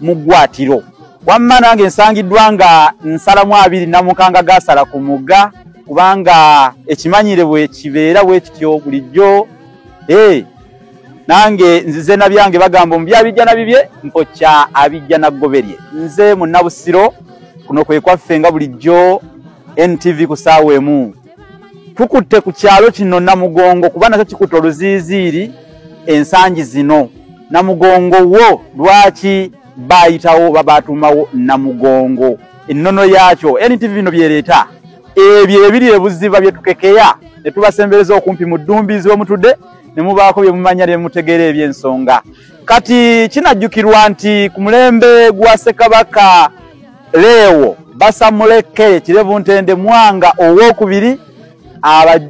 mu ggwaatiro wamma nange nsangiddwa nga nsalamu abiri namukanga gaasala ku mugga kubanga ekimanyire bwe kibeera bwe kityo bulijjo ee nange nzize na byange bagamba omu byabijjana bibye mpokya abijjana ggoberye nze mu nabusiro kuno kwe kwaffe nga bulijjo ntv ku saawa emu tukutte ku kyalo kino namugongo kuba nakyo kikutte oluziiziiri ensangi zino namugongo wo lwaki baayitawo oba baatuumawo namugongo ennono yaakyo ntv bino byereeta ebyo ebiri ebuziba bye tukekeya ne tubasembereza okumpi mu ddumbiizi we mutudde ne mubaako bye mumanya ne mutegeera eby'ensonga kati kinajjukirwa nti ku mulembe gwa ssekabaka Leewo basamule ke kirevu ntende mwanga owokubiri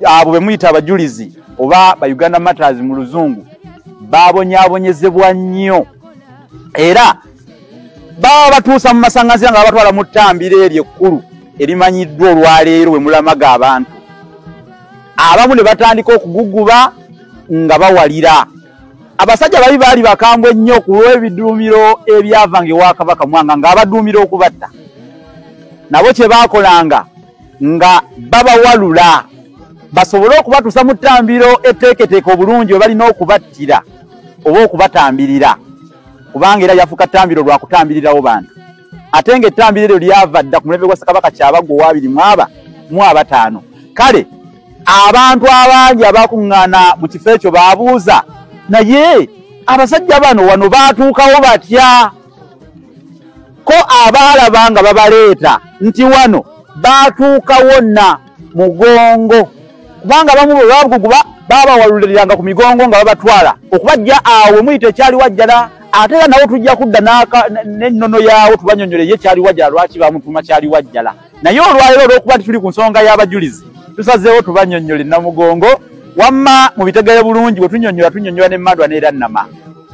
abo be muyita abajulizi oba ba Uganda Matters mu luzungu babonyabonyezebwa nnyo era baba batuusa mu masanganzira nga babatwala mu ttambiro eryo ekkulu erimanyiddwa olwaleero we mulamaga abantu abamu ne batandika okuguguba nga bawalira abasajja babi baali bakambwe nnyo ku lw'ebiduumiro ebyavanga ewa kabaka mwanga ng'abaduumira okubatta nabo kye baakolanga nga babawalula basobole okubatuusa mu ttambiro etteeketeeke obulungi we balina okubattira oba okubatambirira kubanga era yafuka ttambiro lwa kutambirirawo bantu ate nga ettambiro eryo lyava dda ku mulembe gwa sakabaka kyabagwa owabiri mwaba mu abataano kale abantu abangi abakuŋŋaana mu kifo ekyo baabuuza naye abasajja bano wano baatuukawo batya ko abaalaba nga babaleeta nti wano baatuukawo na mugongo kubanga abamu bwe babuguguba baabawaluliranga ku migongo nga babatwala okubajja awo we muyita ekyali wajjala ate era nawo tujja kudda n'ennono yaawo tubanyonyole ye kyali wajjala lwaki bamutuma kyali wajjala naye olwaliro olw'okuba nti tuli ku nsonga y'abajulizi tusazeewo tubanyonyole namugongo wamma mu bitegere bulungi bwe tunyonyola tunyonyola ne mandwa n'era nnama